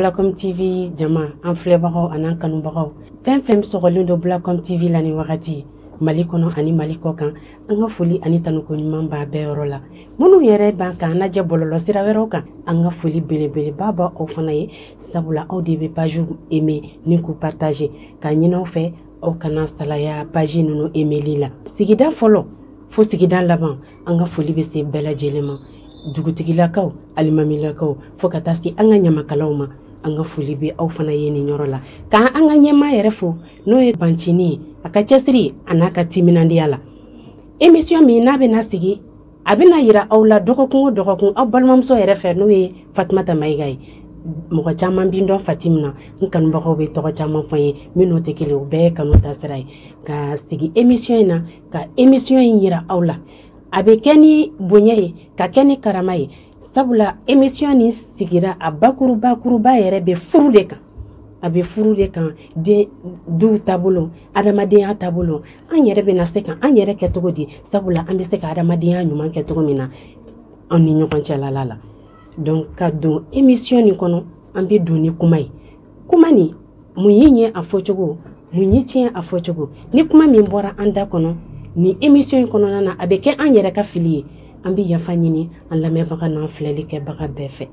Blacom TV jama an filɛbagaw an'an kanubagaw fɛn fɛn sɔgɔlen don Blacom TV la nin wagati mali kɔnɔ ani mali kɔ kan an ka foli ani tanuko ɲuman b'aw bɛɛ yɔrɔ la minnu yɛrɛ b'an kan lajɛ bɔlɔlɔ sira wɛrɛw kan an ka foli belebeleba b'aw fana ye sabula aw de bɛ pajiw eme ni k'u partaze k'a ɲin'aw fɛ aw kana salaya paji ninnu emeli la sigida fɔlɔ fo sigida laban an ka foli bɛ se bɛɛ lajɛlen ma dugutigilakaw alimamilakaw fo ka taa se an ka ɲamakalaw ma an ka foli bɛ aw fana ye nin yɔrɔ la ka an ka ɲɛmaa yɛrɛ fo n'o ye bancini ye a ka cɛsiri an'a ka timinandiya la emisiyɔn min n'a bɛna sigi a bɛna yira aw la dɔgɔkun o dɔgɔkun aw balimamuso yɛrɛ fɛ n'o ye fatumata mayiga ye mɔgɔ caman bɛ n dɔn fatim na n kanubagaw bɛ tɔgɔ caman fɔ n ye minnu tɛ kelen o bɛɛ ye kanu taasira ye ka sigi emisiyɔn in na ka emisiyɔn in yira aw la a bɛ kɛ ni bonya ye ka kɛ ni karama ye sabula emission nin sigira a bakurubakuruba yɛrɛ bɛ furu de kan a bɛ furu de kan duw taabolo adamadenya taabolo an yɛrɛ bɛna se ka an yɛrɛ kɛ cogo di sabula an bɛ se ka adamadenya ɲuman kɛ cogo min na an ni ɲɔgɔn cɛlala la donc ka don emission nin kɔnɔ an bɛ don ni kuma ye kuma nin mun y'i ɲɛ a fɔcogo mun y'i tiɲɛ a fɔcogo ni kuma min bɔra an da kɔnɔ nin emission in kɔnɔna na a bɛ kɛ an yɛrɛ ka fili ye an bɛ yafa ɲini an lamɛnbaga n'an filɛli kɛbaga bɛɛ fɛ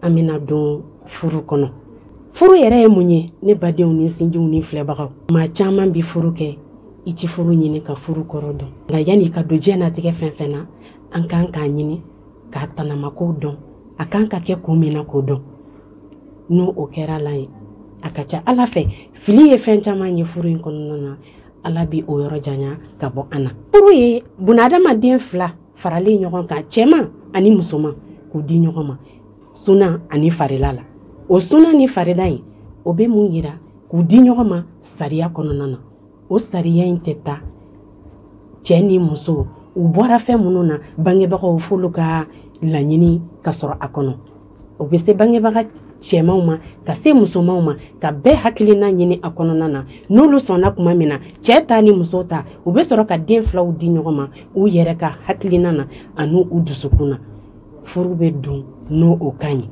an bɛna don furu kɔnɔ furu yɛrɛ ye mun ye ne badenw ni sinjiw ni filɛbagaw maa caman bɛ furu kɛ i ti furu ɲini ka furu kɔrɔ dɔn nka yanni ka don diɲɛnatigɛ fɛn fɛn na an kan k'a ɲini k'a tanamakow dɔn a kan ka kɛ kun min na k'o dɔn n'o kɛra ala ye a ka ca a la fɛ fili ye fɛn caman ye furu in kɔnɔna na ala bɛ o yɔrɔ janya ka bɔ an na furu ye bunadamaden fila faralen ɲɔgɔn kan cɛman ani musoman k'u di ɲɔgɔn ma sunan ani farida la o sunan ni farida in o bɛ mun yira k'u di ɲɔgɔn ma sariya kɔnɔna na o sariya in tɛ taa cɛ ni muso u bɔra fɛn minnu na bangebagaw f'olu ka laɲini ka sɔrɔ a kɔnɔ o bɛ se bangebaga cɛmanw ma ka se musomanw ma ka bɛɛ hakilina ɲini a kɔnɔna na n'olu sɔnna tuma min na cɛ ta ni muso ta u bɛ sɔrɔ ka den filaw di ɲɔgɔn ma u yɛrɛ ka hakilina na ani u dusukun na furu bɛ don n'o kan ye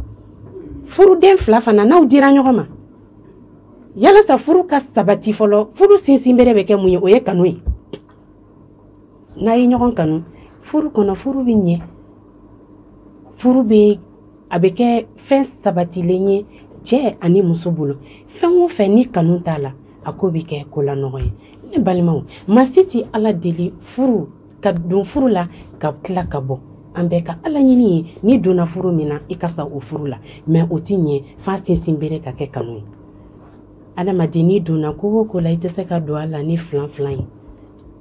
furuden fila fana n'u dira ɲɔgɔn ma yalasa furu ka sabati fɔlɔ furu sinsinbere bɛ kɛ mun ye o ye kanu ye n'a ye ɲɔgɔn kanu furu kɔnɔ furu bɛ ɲɛ furu bɛ a bɛ kɛ fɛn sabatilen ye cɛ ani muso bolo fɛn o fɛn ni kanu t'a la a ko bɛ kɛ ko la nɔgɔn ye ne balimaw maa si tɛ ala deli furu ka don furu la ka tila ka bɔ an bɛɛ ka laɲini ye n'i donna furu min na i ka sa o furu la mɛ o tɛ ɲɛ f'a sinsinbere ka kɛ kanu ye adamaden n'i donna ko o ko la i tɛ se ka don a la ni filanfilan ye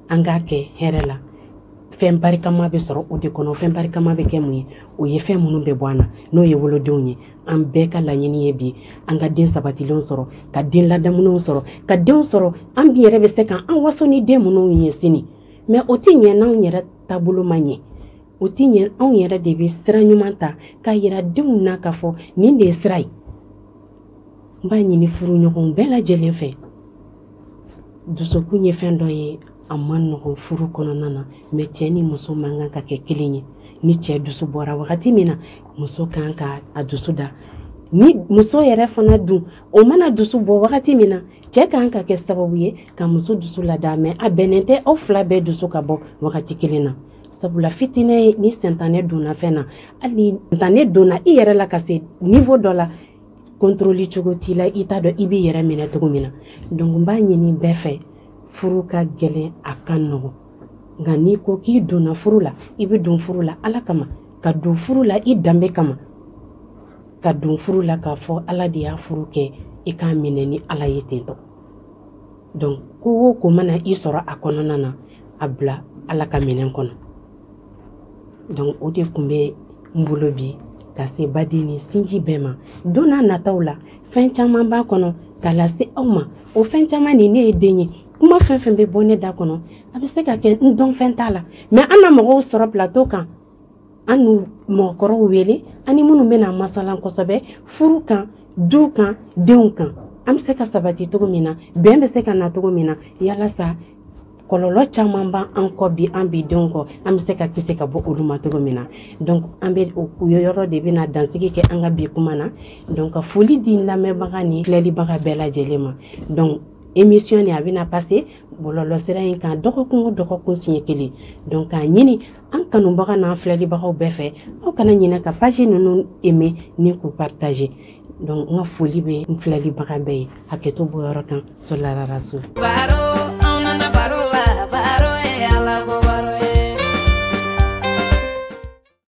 an k'a kɛ hɛrɛ la fɛn barikama bɛ sɔrɔ o de kɔnɔ fɛn barikama bɛ kɛ mun ye o ye fɛn minnu bɛ bɔ an na n'o ye wolodenw ye an bɛɛ ka laɲini ye bi an ka den sabatilenw sɔrɔ ka den ladamulenw sɔrɔ ka denw sɔrɔ an bi yɛrɛ bɛ se ka an waso ni den minnu ye sini mɛ o tɛ ɲɛ n'anw yɛrɛ taabolo ma ɲɛ o tɛ ɲɛ anw yɛrɛ de bɛ sira ɲuman ta k'a yira denw na k'a fɔ nin de ye sira ye n b'a ɲini furuɲɔgɔnw bɛɛ lajɛlen fɛ dusukun ye fɛn dɔ ye a man nɔgɔn furu kɔnɔna na mɛ cɛ ni muso man kan ka kɛ kelen ye ni cɛ dusu bɔra wagati min na muso kan ka a dusu da ni muso yɛrɛ fana dun o mana dusu bɔ wagati min na cɛ kan ka kɛ sababu ye ka muso dusu lada mɛ a bɛnnen tɛ aw fila bɛɛ dusu ka bɔ wagati kelen na sabula fitinɛ ni sentanɛ donna fɛn na hali sentanɛ donna i yɛrɛ la ka se niveau dɔ la contrôle cogo t'i la i t'a dɔn i b'i yɛrɛ minɛ cogo min na donc n b'a ɲini bɛɛ fɛ furu ka gɛlɛn a ka nɔgɔ nka n'i ko k'i donna furu la i bɛ don furu la ala kama ka don furu la i danbe kama ka don furu la k'a fɔ ala de y'a furu kɛ i k'a minɛ ni ala ye tentɔ donc ko o ko mana i sɔrɔ a kɔnɔna na a bila ala ka minɛn kɔnɔ donc o de tun bɛ n bolo bi ka se baden ni sinji bɛɛ ma don na nataw la fɛn caman b'a kɔnɔ k'a lase aw ma o fɛn caman nin ne ye den ye kuma fɛn fɛn bɛ bɔ ne da kɔnɔ a bɛ se ka kɛ n dɔnfɛn t'a la mɛ an na mɔgɔw sɔrɔ plateau kan an n'u mɔgɔkɔrɔw wele ani minnu bɛna masalan kosɛbɛ furu kan du kan denw kan an bɛ se ka sabati cogo min na bɛn bɛ se ka na cogo min na yalasa kɔlɔlɔ caman b'an kɔ bi an bidenw kɔ an bɛ se ka kisi ka bɔ olu ma cogo min na donc an bɛ o yɔrɔ de bɛna dansigi kɛ an ka bi kuma na donc ka foli di lamɛnbaga ni filɛlibaga bɛɛ lajɛlen ma donc émission nin a bɛna passer bɔlɔlɔsira in kan dɔgɔkun o dɔgɔkun siɲɛ kelen donc k'a ɲini an kanubaga n'an filɛlibagaw bɛɛ fɛ aw kana ɲinɛ ka page ninnu aimer ni k'u partager donc n ka foli bɛ n filɛlibaga bɛɛ ye hakɛto b'o yɔrɔ kan solararaso